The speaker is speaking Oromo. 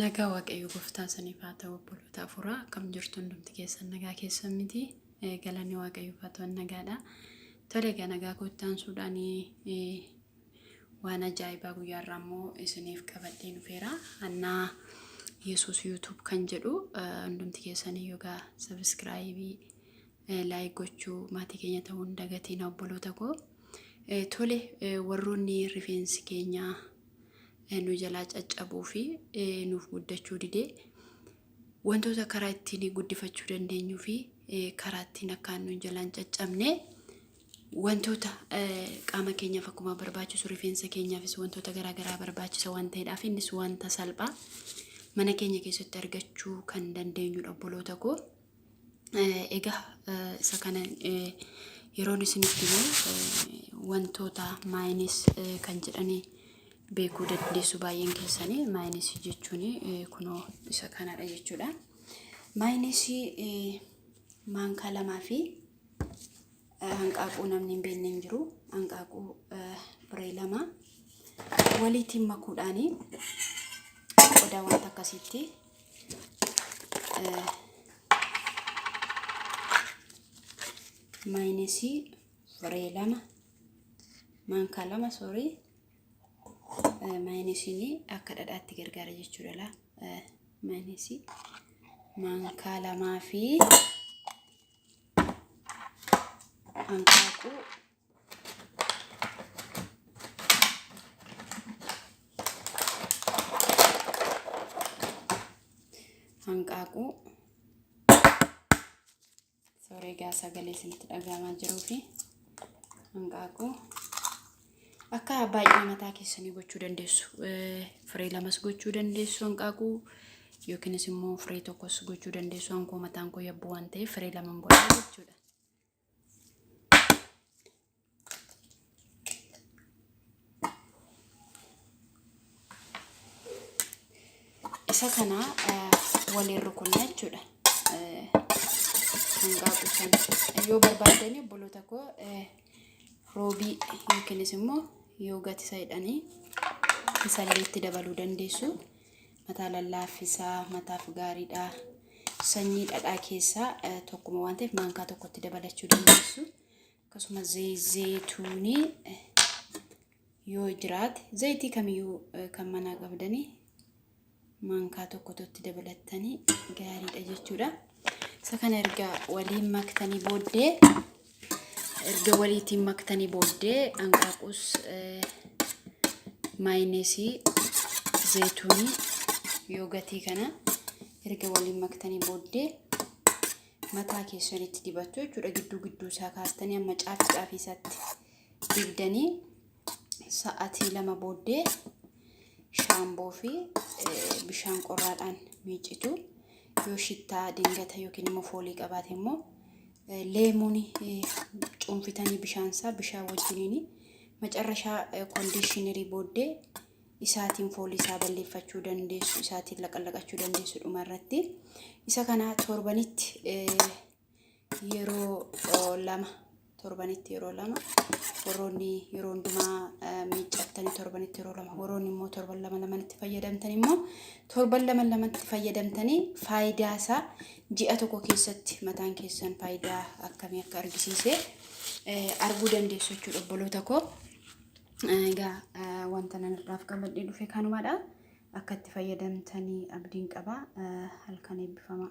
Nagaa waaqayyo gooftaa saniif haa ta'u obboloota afuuraa akkam jirtu hundumti keessan nagaa keessan miti galanni waaqayyo haa ta'u nagaadha. Tole egaa nagaa gooftaan suudhaan waan ajaa'ibaa guyyaa irraa immoo isiniif qabadhee dhufeera. Annaa Yesuus YouTube kan jedhu hundumti keessan yogaa sabiskiraayibii laayik gochuu maatii keenya ta'uu hin dagatiin obboloota koo. Eh, Tole eh, warroonni rifeensi keenya eh, nu jalaa caccabuu fi eh, nuuf guddachuu dide wantoota karaa ittiin guddifachuu dandeenyuu fi eh, karaa ittiin akkaan nu jalaan caccabne wantoota eh, qaama keenyaaf akkuma barbaachisu rifeensa keenyaafis wantoota garaagaraa barbaachisa waan ta'eedhaaf innis wanta salphaa mana keenya keessatti argachuu kan dandeenyudha obboloota koo. Egaa isa kana yeroon isinitti himu wantoota maayinis kan jedhanii beekuu dandeessu baay'een keessanii maayinis jechuun kunoo isa kanadha jechuudha. Maayinis maankaa lamaa fi hanqaaquu namni hin beekne hin jiru. Hanqaaquu biree lama waliitiin makuudhaanii qodaa wanta akkasiitti maayinesii firee lama maankaa lama soorii maayinesini akka dhadhaatti gargaara jechuudha laa maayinesii maankaa lamaa fi hanqaaquu hanqaaquu sooree gaa sagalee isinitti dhagaamaa jiruu fi hanqaaquu akka baay'ina mataa keessanii gochuu dandeessu firee lamas gochuu dandeessu hanqaaquu yookiinis immoo firee tokkos gochuu dandeessu hankoo mataan koo yabbuu waan ta'eef firee lama godhaa jechuudha. isa kana waliin rukunna jechuudha. Hangaa kuusan yoo barbaadanii obboloota koo roobii yookiinis immoo yoo gatisaadhanii isallee itti dabaluu dandeessu. Mataa lallaaffisaa, mataaf gaariidha. Sanyii dhadhaa keessaa eh, tokkuma waan ta'eef maankaa tokkotti dabalachuu dandeessu. Akkasuma zee- zeeyituunii eh, yoo jiraate zayitii kamiyyuu eh, kan manaa qabdanii maankaa tokkotu itti dabalattanii gaariidha jechuudha. Isa kana erga waliin maktanii booddee erga waliitiin maktanii booddee hanqaaquus maayineesii zayituunii yoogatii kana erga waliin maktanii booddee mataa keessanitti dibattu jechuudha gidduu gidduu isaa kaastanii amma caafi caafii isaatti dibdanii sa'atii lama booddee shaamboo fi bishaan qorraadhaan miicitu yoo shittaa dingata yookiin immoo foolii qabaate immoo leemuuni cuunfitanii bishaan isaa bishaan wajjiniin macarrashaa kondiishinirii booddee isaatiin foolii isaa balleeffachuu dandeessu isaatiin laqallaqachuu dandeessu dhuma irratti isa kana torbanitti yeroo lama torbanitti yeroo lama warroonni yeroo hundumaa miiccattanii torbanitti yeroo lama warroonni immoo torban lama lamanitti fayyadamtan immoo torban lama lamatti fayyadamtanii faayidaa isaa ji'a tokko keessatti mataan keessan faayidaa akkamii akka argisiise arguu dandeessu jechuudha obboloota koo. Egaa wanta nan irraaf qabadhee dhufe kanumadha. Akka itti fayyadamtanii abdiin qaba. Halkan eebbifamaa.